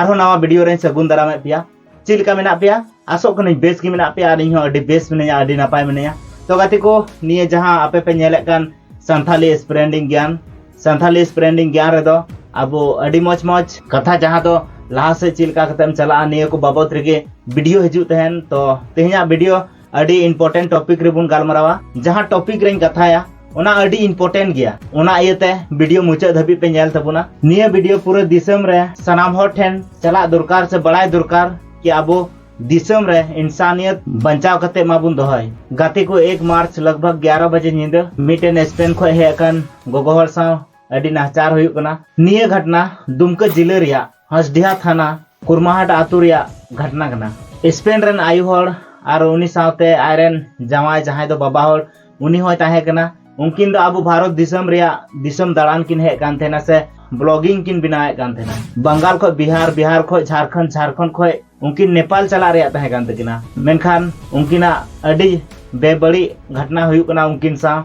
ᱟᱨᱦᱚᱸ ᱱᱟᱣᱟ ᱵᱷᱤᱰᱤᱭᱳ ᱨᱮᱧ ᱥᱟᱹᱜᱩᱱ ᱫᱟᱨᱟᱢᱮᱫ ᱯᱮᱭᱟ ᱪᱮᱫ ᱞᱮᱠᱟ ᱢᱮᱱᱟᱜ ᱯᱮᱭᱟ ᱟᱥᱚᱜ ᱠᱟᱹᱱᱟᱹᱧ ᱵᱮᱥ ᱜᱮ ᱢᱮᱱᱟᱜ ᱯᱮᱭᱟ ᱟᱨ ᱤᱧ ᱦᱚᱸ ᱟᱹᱰᱤ ᱵᱮᱥ ᱢᱤᱱᱟᱹᱧᱟ ᱟᱹᱰᱤ ᱱᱟᱯᱟᱭ ᱢᱤᱱᱟᱹᱧᱟ ᱛᱚ ᱜᱟᱛᱮ ᱠᱚ ᱱᱤᱭᱟᱹ ᱡᱟᱦᱟᱸ ᱟᱯᱮ ᱯᱮ ᱧᱮᱞᱮᱫ ᱠᱟᱱ ᱥᱟᱱᱛᱷᱟᱞᱤ ᱥᱯᱨᱮᱱᱰᱤᱝ ᱜᱮᱭᱟᱱ ᱥᱟᱱᱛᱷᱟᱞᱤ ᱥᱯᱨᱮᱱᱰᱤᱝ ᱜᱮᱭᱟᱱ ᱨᱮᱫᱚ ᱟᱵᱚ ᱟᱹᱰᱤ ᱢᱚᱡᱽ ᱢᱚᱡᱽ ᱠᱟᱛᱷᱟ ᱡᱟᱦᱟᱸ ᱫᱚ ᱞᱟᱦᱟ ᱥᱮᱫ ᱪᱮᱫ ᱞᱮᱠᱟ ᱠᱟᱛᱮᱢ ᱪᱟᱞᱟᱜᱼᱟ ᱱᱤᱭᱟᱹ ᱠᱚ ᱵᱟᱵᱚᱫ ᱨᱮᱜᱮ ᱵᱷᱤᱰᱤᱭᱳ ᱦᱤᱡᱩᱜ ᱛᱟᱦᱮᱱ ᱛᱚ ᱛᱮᱦᱮᱧᱟᱜ ᱵᱷᱤᱰᱤᱭᱳ ᱟᱹᱰᱤ ᱤᱢᱯᱚᱨᱴᱮᱱᱴ ᱴᱚᱯᱤᱠ ᱨᱮᱵᱚᱱ ᱜᱟᱞᱢᱟᱨᱟᱣᱟ ᱡᱟᱦᱟᱸ ᱴᱚᱯᱤᱠ ᱨᱮᱧ ᱠᱟᱛᱷᱟᱭᱟ ᱚᱱᱟ ᱟᱹᱰᱤ ᱤᱢᱯᱚᱨᱴᱮᱱᱴ ᱜᱮᱭᱟ ᱚᱱᱟ ᱤᱭᱟᱹᱛᱮ ᱵᱷᱤᱰᱤᱭᱳ ᱢᱩᱪᱟᱹᱫ ᱫᱷᱟᱹᱵᱤᱡ ᱯᱮ ᱧᱮᱞ ᱛᱟᱵᱚᱱᱟ ᱱᱤᱭᱟᱹ ᱵᱷᱤᱰᱤᱭᱳ ᱯᱩᱨᱟᱹ ᱫᱤᱥᱚᱢ ᱨᱮ ᱥᱟᱱᱟᱢ ᱦᱚᱲ ᱴᱷᱮᱱ ᱪᱟᱞᱟᱜ ᱫᱚᱨᱠᱟᱨ ᱥᱮ ᱵᱟᱲᱟᱭ ᱫᱚᱨᱠᱟᱨ ᱠᱤ ᱟᱵᱚ ᱫᱤᱥᱚᱢ ᱨᱮ ᱤᱱᱥᱟᱱᱤᱭत ᱵᱟᱧᱪᱟᱣ ᱠᱟᱛᱮ ᱢᱟᱵᱚᱱ ᱫᱚᱦᱚᱭ ᱜᱟᱛᱮ ᱠᱚ 1 ᱢᱟᱨᱪ ᱞᱚᱜᱵᱷᱟᱜ 11 ᱵᱟᱡᱮ ᱧᱤᱫᱟᱹ ᱢᱤᱫᱴᱮᱱ ᱥᱯᱮᱱ ᱠᱷᱚᱱ ᱦᱮᱡ ᱟᱠᱟᱱ ᱜᱚᱜᱚ ᱦᱚᱲ ᱥᱟᱶ ᱟᱹᱰᱤ ᱱᱟᱦᱪᱟᱨ ᱦᱩᱭᱩᱜ ᱠᱟᱱᱟ ᱱᱤᱭᱟᱹ ᱜᱷᱚᱴᱱᱟ ᱫᱩᱢᱠᱟᱹ ᱡᱤᱞᱟᱹ ᱨᱮᱭᱟᱜ ᱦᱟᱥᱰᱤᱦᱟ ᱛᱷᱟᱱᱟ ᱠᱩᱨᱢᱟᱦᱟᱴ ᱟᱹᱛᱩ ᱨᱮᱭᱟᱜ ᱜᱷᱟᱴᱱᱟ ᱠᱟᱱᱟ᱾ ᱥᱯᱮᱱ ᱨᱮᱱ ᱟᱭᱳ ᱦᱚᱲ ᱟᱨ ᱩᱱᱤ ᱥᱟᱶᱛᱮ ᱟᱡ ᱨᱮᱱ ᱡᱟᱶᱟᱭ ᱡᱟᱦᱟᱸᱭ ᱫᱚ ᱵᱟᱵᱟ ᱦᱚᱲ ᱩᱱᱤ ᱦᱚᱸᱭ ᱛᱟᱦᱮᱸ ᱠᱟᱱᱟ᱾ ᱩᱱᱠᱤᱱ ᱫᱚ ᱟᱵᱚ ᱵᱷᱟᱨᱚᱛ ᱫᱤᱥᱚᱢ ᱨᱮᱭᱟᱜ ᱫᱤᱥᱚᱢ ᱫᱟᱬᱟᱱ ᱠᱤᱱ ᱦᱮᱡ ᱠᱟᱱ ᱛᱟᱦᱮᱸᱱᱟ ᱥᱮ ᱵᱞᱚᱜᱤᱝ ᱠᱤᱱ ᱵᱮᱱᱟᱣᱮᱫ ᱠᱟᱱ ᱛᱟᱦᱮᱸᱱᱟ᱾ ᱵᱟᱝᱜᱟᱞ ᱠᱷᱚᱡ ᱵᱤᱦᱟᱨ, ᱵᱤᱦᱟᱨ ᱠᱷᱚᱡ ᱡᱷᱟᱨᱠᱷᱚᱸᱰ, ᱡᱷᱟᱨᱠᱷᱚᱸᱰ ᱠᱷᱚᱡ ᱩᱱᱠᱤᱱ ᱱᱮᱯᱟᱞ ᱪᱟᱞᱟᱜ ᱨᱮᱭᱟᱜ ᱛᱟᱦᱮᱸ ᱠᱟᱱ ᱛᱟᱹᱠᱤᱱᱟ ᱢᱮᱱᱠᱷᱟᱱ ᱩᱱᱠᱤᱱᱟᱜ ᱟᱹᱰᱤ ᱵᱮᱵᱟᱹᱲᱤᱡ ᱜᱷᱚᱴᱱᱟ ᱦᱩᱭᱩᱜ ᱠᱟᱱᱟ ᱩᱱᱠᱤᱱ ᱥᱟᱶ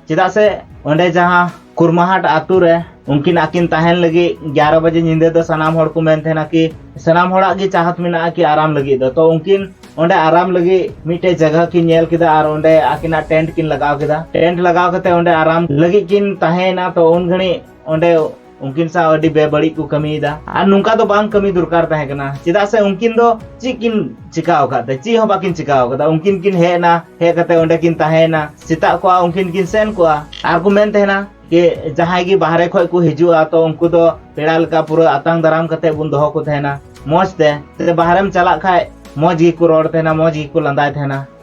ᱪᱮᱫᱟᱜ ᱥᱮ ᱚᱸᱰᱮ ᱡᱟᱦᱟᱸ ᱠᱩᱨᱢᱟᱦᱟᱴ ᱟᱛᱳ ᱨᱮ ᱩᱱᱠᱤᱱ ᱟᱹᱠᱤᱱ ᱛᱟᱦᱮᱱ ᱞᱟᱹᱜᱤᱫ ᱜᱮᱭᱟᱨᱚ ᱵᱟᱡᱮ ᱧᱤᱫᱟᱹ ᱫᱚ ᱥᱟᱱᱟᱢ ᱦᱚᱲ ᱠᱚ ᱢᱮᱱ ᱛᱟᱦᱮᱱᱟ ᱠᱤ ᱥᱟᱱᱟᱢ ᱦᱚᱲᱟᱜ ᱜᱮ ᱪᱟᱦᱟᱛ ᱢᱮᱱᱟᱜᱼᱟ ᱠᱤ ᱟᱨᱟᱢ ᱞᱟᱹᱜᱤᱫ ᱫᱚ ᱛᱚ ᱩᱱᱠᱤᱱ ᱚᱸᱰᱮ ᱟᱨᱟᱢ ᱞᱟᱹᱜᱤᱫ ᱢᱤᱫᱴᱮᱡ ᱡᱟᱭᱜᱟ ᱠᱤᱱ ᱧᱮᱞ ᱠᱮᱫᱟ ᱟᱨ ᱚᱸᱰᱮ ᱟᱹᱠᱤᱱᱟᱜ ᱴᱮᱱᱴ ᱠᱤᱱ ᱞᱟᱜᱟᱣ ᱠᱮᱫᱟ ᱴᱮᱱᱴ ᱞᱟᱜᱟᱣ ᱠᱟᱛᱮ ᱚᱸᱰᱮ ᱟᱨᱟᱢ ᱞᱟᱹᱜᱤᱫ ᱠᱤᱱ ᱛᱟᱦᱮᱸᱭᱮᱱᱟ ᱛᱚ ᱩᱱ ᱜᱷᱟᱹᱲᱤᱡ ᱚᱸᱰᱮ ᱩᱱᱠᱤᱱ ᱥᱟᱶ ᱟᱹᱰᱤ ᱵᱮᱵᱟᱹᱲᱤᱡ ᱠᱚ ᱠᱟᱹᱢᱤᱭᱮᱫᱟ ᱟᱨ ᱱᱚᱝᱠᱟ ᱫᱚ ᱵᱟᱝ ᱠᱟᱹᱢᱤ ᱫᱚᱨᱠᱟᱨ ᱛᱟᱦᱮᱸ ᱠᱟᱱᱟ ᱪᱮᱫᱟᱜ ᱥᱮ ᱩᱱᱠᱤᱱ ᱫᱚ ᱪᱮᱫ ᱠᱤᱱ ᱪᱤᱠᱟ ᱟᱠᱟᱫ ᱛᱮ ᱪᱮᱫ ᱦᱚᱸ ᱵᱟᱠᱤᱱ ᱪᱤᱠᱟ ᱟᱠᱟᱫᱟ ᱩᱱᱠᱤᱱ ᱠᱤᱱ ᱦᱮᱡ ᱮᱱᱟ ᱦᱮᱡ ᱠᱟᱛᱮ ᱚᱸᱰᱮ ᱠᱤᱱ ᱛᱟᱦᱮᱸᱭᱮᱱᱟ ᱥᱮᱛᱟᱜ ᱠᱚᱜᱼᱟ ᱩᱱᱠᱤᱱ ᱠᱤᱱ ᱥᱮᱱ ᱠᱚᱜᱼᱟ ᱟᱨ ᱠᱚ ᱢᱮᱱ ᱛᱟᱦᱮᱱᱟ ᱡᱮ ᱡᱟᱦᱟᱸᱭ ᱜᱮ ᱵᱟᱦᱨᱮ ᱠᱷᱚᱡ ᱠᱚ ᱦᱤᱡᱩᱜᱼᱟ ᱛᱚ ᱩᱱᱠᱩ ᱫᱚ ᱯᱮᱲᱟ ᱞᱮᱠᱟ ᱯᱩᱨᱟᱹ ᱟᱛᱟᱝ ᱫᱟᱨᱟᱢ ᱠᱟᱛᱮ ᱵᱚᱱ ᱫᱚᱦᱚ ᱠᱚ ᱛᱟᱦᱮᱱᱟ ᱢᱚᱡᱽ ᱛᱮ ᱵᱟᱦᱨᱮᱢ ᱪᱟᱞᱟᱜ ᱠᱷᱟᱡ ᱢᱚᱡᱽ ᱜᱮᱠᱚ ᱨᱚᱲ ᱛᱟᱦᱮᱱᱟ ᱢᱚᱡᱽ ᱜᱮᱠᱚ ᱞᱟᱸᱫᱟᱭ ᱛᱟᱦᱮᱱᱟ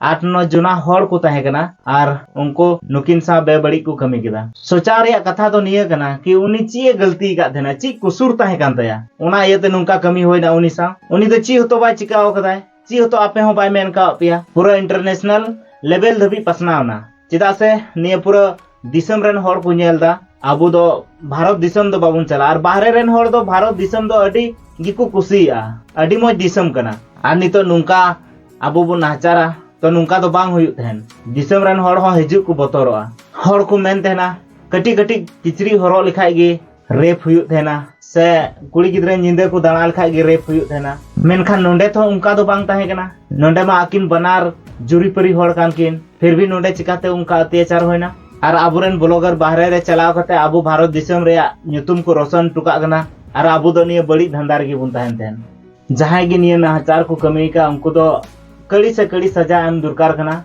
ᱟᱴ ᱱᱚ ᱡᱚᱱᱟ ᱦᱚᱲ ᱠᱚ ᱛᱟᱦᱮᱸ ᱠᱟᱱᱟ ᱟᱨ ᱩᱱᱠᱩ ᱱᱩᱠᱤᱱ ᱥᱟᱶ ᱵᱮᱵᱟᱹᱲᱤᱡ ᱠᱚ ᱠᱟᱹᱢᱤ ᱠᱮᱫᱟ ᱥᱚᱪᱟᱣ ᱨᱮᱭᱟᱜ ᱠᱟᱛᱷᱟ ᱫᱚ ᱱᱤᱭᱟᱹ ᱠᱟᱱᱟ ᱠᱤ ᱩᱱᱤ ᱪᱮᱫ ᱮ ᱜᱟᱹᱞᱛᱤ ᱟᱠᱟᱫ ᱛᱟᱦᱮᱱᱟ ᱪᱮᱫ ᱠᱩᱥᱩᱨ ᱛᱟᱦᱮᱸ ᱠᱟᱱ ᱛᱟᱭᱟ ᱚᱱᱟ ᱤᱭᱟᱹᱛᱮ ᱱᱚᱝᱠᱟ ᱠᱟᱹᱢᱤ ᱦᱩᱭᱱᱟ ᱩᱱᱤ ᱥᱟᱶ ᱩᱱᱤ ᱫᱚ ᱪᱮᱫ ᱦᱚᱛᱚ ᱵᱟᱭ ᱪᱤᱠᱟᱹᱣ ᱟᱠᱟᱫᱟᱭ ᱪᱮᱫ ᱦᱚᱛᱚ ᱟᱯᱮ ᱦᱚᱸ ᱵᱟᱭ ᱢᱮᱱ ᱠᱟᱣᱟᱫ ᱯᱮᱭᱟ ᱯᱩᱨᱟᱹ ᱤᱱᱴᱟᱨᱱᱮᱥᱱᱟᱞ ᱞᱮᱵᱮᱞ ᱫᱷᱟᱹᱵᱤᱡ ᱯᱟᱥᱱᱟᱣ ᱮᱱᱟ ᱪᱮᱫᱟᱜ ᱥᱮ ᱱᱤᱭᱟᱹ ᱯᱩᱨᱟᱹ ᱫᱤᱥᱚᱢ ᱨᱮᱱ ᱦᱚᱲ ᱠᱚ ᱧᱮᱞ ᱮᱫᱟ ᱟᱵᱚ ᱫᱚ ᱵᱷᱟᱨᱚᱛ ᱫᱤᱥᱚᱢ ᱫᱚ ᱵᱟᱵᱚᱱ ᱪᱟᱞᱟᱜᱼᱟ ᱟᱨ ᱵᱟᱦᱨᱮ ᱨᱮᱱ ᱦᱚᱲ ᱫᱚ ᱵᱷᱟᱨᱚᱛ ᱫᱤᱥᱚᱢ ᱫᱚ ᱟᱹᱰᱤ ᱜᱮᱠᱚ ᱠᱩᱥᱤᱭᱟᱜᱼᱟ ᱟᱹᱰᱤ ᱢᱚᱡᱽ ᱫᱤᱥᱚᱢ ᱠᱟᱱᱟ ᱟᱨ ᱱᱤᱛᱚᱜ ᱱᱚᱝᱠᱟ ᱟᱵᱚ ᱵᱚᱱ ᱱᱟᱦᱟᱪᱟᱨᱟ ᱛᱚ ᱱᱚᱝᱠᱟ ᱫᱚ ᱵᱟᱝ ᱦᱩᱭᱩᱜ ᱛᱟᱦᱮᱱ ᱫᱤᱥᱚᱢ ᱨᱮᱱ ᱦᱚᱲ ᱦᱚᱸ ᱦᱤᱡᱩᱜ ᱠᱚ ᱵᱚᱛᱚᱨᱚᱜᱼᱟ ᱦᱚᱲ ᱠᱚ ᱢᱮᱱ ᱛᱟᱦᱮᱱᱟ ᱠᱟᱹᱴᱤᱡ ᱠᱟᱹᱴᱤᱡ ᱠᱤᱪᱨᱤᱡ ᱦᱚᱨᱚᱜ ᱞᱮᱠᱷᱟᱡ ᱜᱮ ᱨᱮᱯ ᱦᱩᱭᱩᱜ ᱛᱟᱦᱮᱱᱟ ᱥᱮ ᱠᱩᱲᱤ ᱜᱤᱫᱽᱨᱟᱹ ᱧᱤᱫᱟᱹ ᱠᱚ ᱫᱟᱬᱟ ᱞᱮᱠᱷᱟᱡ ᱜᱮ ᱨᱮᱯ ᱦᱩᱭᱩᱜ ᱛᱟᱦᱮᱱᱟ ᱢᱮᱱᱠᱷᱟᱱ ᱱᱚᱰᱮ ᱛᱚ ᱚᱱᱠᱟ ᱫᱚ ᱵᱟᱝ ᱛᱟᱦᱮᱸ ᱠᱟᱱᱟ ᱱᱚᱰᱮ ᱢᱟ ᱟᱹᱠᱤᱱ ᱵᱟᱱᱟᱨ ᱡᱩᱨᱤᱯᱟᱹᱨᱤ ᱦᱚᱲ ᱠᱟᱱ ᱠᱤᱱ ᱯᱷᱤᱨ ᱵᱷᱤ ᱱᱚᱰᱮ ᱪᱤᱠᱟᱛᱮ ᱚᱱᱠᱟ ᱚᱛᱛᱟᱪᱟᱨ ᱦᱩᱭᱱᱟ ᱟᱨ ᱟᱵᱚᱨᱮᱱ ᱵᱞᱚᱜᱟᱨ ᱵᱟᱦᱨᱮ ᱨᱮ ᱪᱟᱞᱟᱣ ᱠᱟᱛᱮ ᱟᱵᱚ ᱵᱷᱟᱨᱚᱛ ᱫᱤᱥᱚᱢ ᱨᱮᱭᱟᱜ ᱧᱩᱛᱩᱢ ᱠᱚ ᱨᱚᱥᱚᱱ ᱦᱚᱴᱚ ᱠᱟᱜ ᱠᱟᱱᱟ ᱟᱨ ᱟᱵᱚ ᱫᱚ ᱱᱤᱭᱟᱹ ᱵᱟᱹᱲᱤᱡ ᱫᱷᱟᱸᱫᱟ ᱨᱮᱜᱮ ᱵᱚᱱ ᱛᱟᱦᱮᱱ ᱛᱟᱦᱮᱱ ᱡᱟᱦᱟᱸᱭ ᱜᱮ ᱱᱤᱭᱟᱹ ᱱᱟᱦᱟᱪᱟᱨ ᱠᱚ ᱠᱟᱹᱢᱤ ᱠᱟᱜ ᱩᱱᱠᱩ ᱫᱚ ᱠᱟᱹᱲᱤ ᱥᱮ ᱠᱟᱹᱲᱤ ᱥᱟᱡᱟ ᱮᱢ ᱫᱚᱨᱠᱟᱨ ᱠᱟᱱᱟ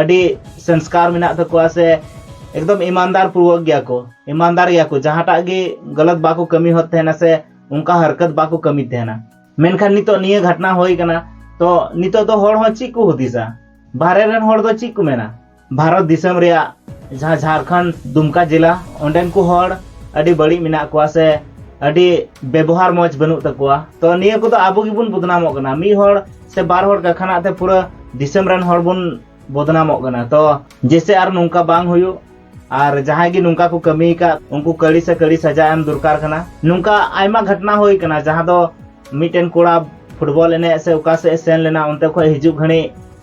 ᱟᱹᱰᱤ ᱥᱚᱝᱥᱠᱟᱨ ᱢᱮᱱᱟᱜ ᱛᱟᱠᱚᱣᱟ ᱥᱮ ᱮᱠᱫᱚᱢ ᱤᱢᱟᱱᱫᱟᱨ ᱯᱩᱨᱣᱚᱠ ᱜᱮᱭᱟ ᱠᱚ ᱤᱢᱟᱱᱫᱟᱨ ᱜᱮᱭᱟ ᱠᱚ ᱡᱟᱦᱟᱸᱴᱟᱜ ᱜᱮ ᱜᱟᱞᱟᱛ ᱵᱟᱠᱚ ᱠᱟᱹᱢᱤ ᱦᱚᱫ ᱛᱟᱦᱮᱱᱟ ᱥᱮ ᱚᱱᱠᱟ ᱦᱟᱨᱠᱟᱛ ᱵᱟᱠᱚ ᱠᱟᱹᱢᱤ ᱛᱟᱦᱮᱱᱟ ᱢᱮᱱᱠᱷᱟᱱ ᱱᱤᱛᱚᱜ ᱱᱤᱭᱟᱹ ᱜᱷᱟᱴᱱᱟ ᱦᱩᱭ ᱠᱟᱱᱟ ᱛᱚ ᱱᱤᱛᱚᱜ ᱫᱚ ᱦᱚᱲ ᱦᱚᱸ ᱪᱮᱫ ᱠᱚ ᱦᱩᱫᱤᱥᱟ ᱵᱟᱦᱨᱮ ᱨᱮᱱ ᱦᱚᱲ ᱫᱚ ᱪᱮᱫ ᱠᱚ ᱢᱮᱱᱟ ᱵᱷᱟᱨᱚᱛ ᱫᱤᱥᱚᱢ ᱨᱮᱭᱟᱜ ᱡᱟᱦᱟᱸ ᱡᱷᱟᱲᱠᱷᱚᱸᱰ ᱫᱩᱢᱠᱟ ᱡᱮᱞᱟ ᱚᱸᱰᱮᱱ ᱠᱚ ᱦᱚᱲ ᱟᱹᱰᱤ ᱵᱟᱹᱲᱤᱡ ᱢᱮᱱᱟᱜ ᱠᱚᱣᱟ ᱥᱮ ᱟᱹᱰᱤ ᱵᱮᱵᱚᱦᱟᱨ ᱢᱚᱡᱽ ᱵᱟᱹᱱᱩᱜ ᱛᱟᱠᱚᱣᱟ ᱛᱚ ᱱᱤᱭᱟᱹ ᱠᱚᱫᱚ ᱟᱵᱚ ᱜᱮᱵᱚᱱ ᱵᱚᱫᱱᱟᱢᱚᱜ ᱠᱟᱱᱟ ᱢᱤᱫ ᱦᱚᱲ ᱥᱮ ᱵᱟᱨ ᱦᱚᱲ ᱠᱟᱠᱷᱟᱱᱟᱜ ᱛᱮ ᱯᱩᱨᱟᱹ ᱫᱤᱥᱚᱢ ᱨᱮᱱ ᱦᱚᱲ ᱵᱚᱱ ᱵᱚᱫᱱᱟᱢᱚᱜ ᱠᱟᱱᱟ ᱛᱚ ᱡᱮᱥᱮ ᱟᱨ ᱱᱚᱝᱠᱟ ᱵᱟᱝ ᱦᱩᱭᱩᱜ ᱟᱨ ᱡᱟᱦᱟᱸᱭ ᱜᱮ ᱱᱚᱝᱠᱟ ᱠᱚ ᱠᱟᱹᱢᱤ ᱟᱠᱟᱫ ᱩᱱᱠᱩ ᱠᱟᱹᱲᱤ ᱥᱮ ᱠᱟᱹᱲᱤ ᱥᱟᱡᱟ ᱮᱢ ᱫᱚᱨᱠᱟᱨ ᱠᱟᱱᱟ ᱱᱚᱝᱠᱟ ᱟᱭᱢᱟ ᱜᱷᱚᱴᱱᱟ ᱦᱩᱭ ᱠᱟᱱᱟ ᱡᱟᱦᱟᱸ ᱫᱚ ᱢᱤᱫᱴᱮᱱ ᱠᱚᱲᱟ ᱯᱷᱩᱴᱵᱚᱞ ᱮᱱᱮᱡ ᱥᱮ ᱚᱠᱟ ᱥᱮᱫ ᱥᱮᱱ ᱞᱮᱱᱟ ᱚᱱᱛᱮ ᱠᱷᱚᱱ ᱦᱤᱡᱩᱜ ᱜᱷᱟᱹᱲᱤ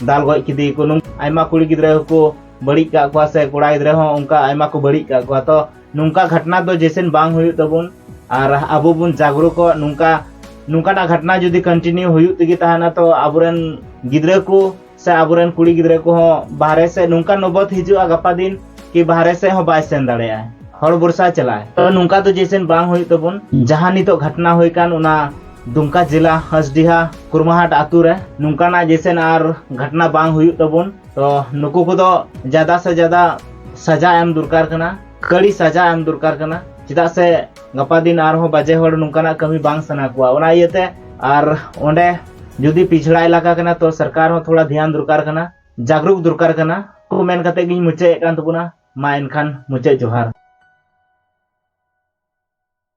ᱫᱟᱞ ᱜᱚᱡ ᱠᱮᱫᱮᱭᱟᱠᱚ ᱟᱭᱢᱟ ᱠᱩᱲᱤ ᱜᱤᱫᱽᱨᱟᱹ ᱦᱚᱸᱠᱚ ᱵᱟᱹᱲᱤᱡ ᱠᱟᱜ ᱠᱚᱣᱟ ᱥᱮ ᱠᱚᱲᱟ ᱜᱤᱫᱽᱨᱟᱹ ᱦᱚᱸ ᱚᱱᱠᱟ ᱟᱭᱢᱟ ᱠᱚ ᱵᱟᱹᱲᱤᱡ ᱠᱟᱜ ᱠᱚᱣᱟ ᱛᱚ ᱱᱚᱝᱠᱟ ᱜᱷᱟᱴᱱᱟ ᱫᱚ ᱡᱮᱥᱮᱱ ᱵᱟᱝ ᱦᱩᱭᱩᱜ ᱛᱟᱵᱚᱱ ᱟᱨ ᱟᱵᱚ ᱵᱚᱱ ᱡᱟᱜᱽᱨᱩᱠᱚᱜ ᱱᱚᱝᱠᱟ ᱱᱚᱝᱠᱟᱱᱟᱜ ᱜᱷᱟᱴᱱᱟ ᱡᱩᱫᱤ ᱠᱚᱱᱴᱤᱱᱤᱭᱩ ᱦᱩᱭᱩᱜ ᱛᱮᱜᱮ ᱛᱟᱦᱮᱱᱟ ᱛᱚ ᱟᱵᱚᱨᱮᱱ ᱜᱤᱫᱽᱨᱟᱹ ᱠᱚ ᱥᱮ ᱟᱵᱚᱨᱮᱱ ᱠᱩᱲᱤ ᱜᱤᱫᱽᱨᱟᱹ ᱠᱚᱦᱚᱸ ᱵᱟᱦᱨᱮ ᱥᱮᱫ ᱱᱚᱝᱠᱟ ᱱᱚᱵᱚᱛ ᱦᱤᱡᱩᱜᱼᱟ ᱜᱟᱯᱟ ᱫᱤᱱ ᱠᱤ ᱵᱟᱦᱨᱮ ᱥᱮᱫ ᱦᱚᱸ ᱵᱟᱭ ᱥᱮᱱ ᱫᱟᱲᱮᱭᱟᱜᱼᱟ ᱦᱚᱲ ᱵᱚᱨᱥᱟ ᱪᱟᱞᱟᱜᱼᱟ ᱛᱚ ᱱᱚᱝᱠᱟ ᱫᱚ ᱡᱮᱥᱮᱱ ᱵᱟᱝ ᱦᱩᱭᱩᱜ ᱛᱟᱵᱚᱱ ᱡᱟᱦᱟᱸ ᱱᱤᱛᱚᱜ ᱜᱷᱟᱴᱱᱟ ᱦᱩᱭ ᱠᱟᱱ ᱚᱱᱟ ᱫᱩᱢᱠᱟ ᱡᱮᱞᱟ ᱦᱟᱥᱰᱤᱦᱟ ᱠᱩᱨᱢᱟᱦᱟᱴ ᱟᱛᱳ ᱨᱮ ᱱᱚᱝᱠᱟᱱᱟᱜ ᱡᱮᱥᱮᱱ ᱟᱨ ᱜᱷᱟᱴᱱᱟ ᱵᱟᱝ ᱦᱩᱭᱩᱜ ᱛᱟᱵᱚᱱ ᱛᱚ ᱱᱩᱠᱩ ᱠᱚᱫᱚ ᱡᱟᱫᱟ ᱥᱮ ᱡᱟᱫᱟ ᱥᱟᱡᱟ ᱮᱢ ᱫᱚᱨᱠᱟᱨ ᱠᱟᱱᱟ ᱠᱟᱹᱲᱤ ᱥᱟᱡᱟ ᱮᱢ ᱫᱚᱨᱠᱟᱨ ᱠᱟᱱᱟ ᱪᱮᱫᱟᱜ ᱥᱮ ᱜᱟᱯᱟ ᱫᱤᱱ ᱟᱨᱦᱚᱸ ᱵᱟᱡᱮ ᱦᱚᱲ ᱱᱚᱝᱠᱟᱱᱟᱜ ᱠᱟᱹᱢᱤ ᱵᱟᱝ ᱥᱟᱱᱟ ᱠᱚᱣᱟ ᱚᱱᱟ ᱤᱭᱟᱹᱛᱮ ᱟᱨ ᱚᱸᱰᱮ ᱡᱩᱫᱤ ᱯᱤᱪᱷᱲᱟ ᱮᱞᱟᱠᱟ ᱠᱟᱱᱟ ᱛᱚ ᱥᱚᱨᱠᱟᱨ ᱦᱚᱸ ᱛᱷᱚᱲᱟ ᱫᱷᱮᱭᱟᱱ ᱫᱚᱨᱠᱟᱨ ᱠᱟᱱᱟ ᱡᱟᱜᱽᱨᱩᱠ ᱫᱚᱨᱠᱟᱨ ᱠᱟᱱᱟ ᱠᱚ ᱢᱮᱱ ᱠᱟᱛᱮ ᱜᱤᱧ ᱢᱩᱪᱟᱹᱫ ᱮᱫ ᱠᱟᱱ ᱛᱟᱵᱚᱱᱟ ᱢᱟ ᱮᱱᱠᱷᱟᱱ ᱢᱩᱪᱟᱹᱫ ᱡᱚᱦᱟᱨ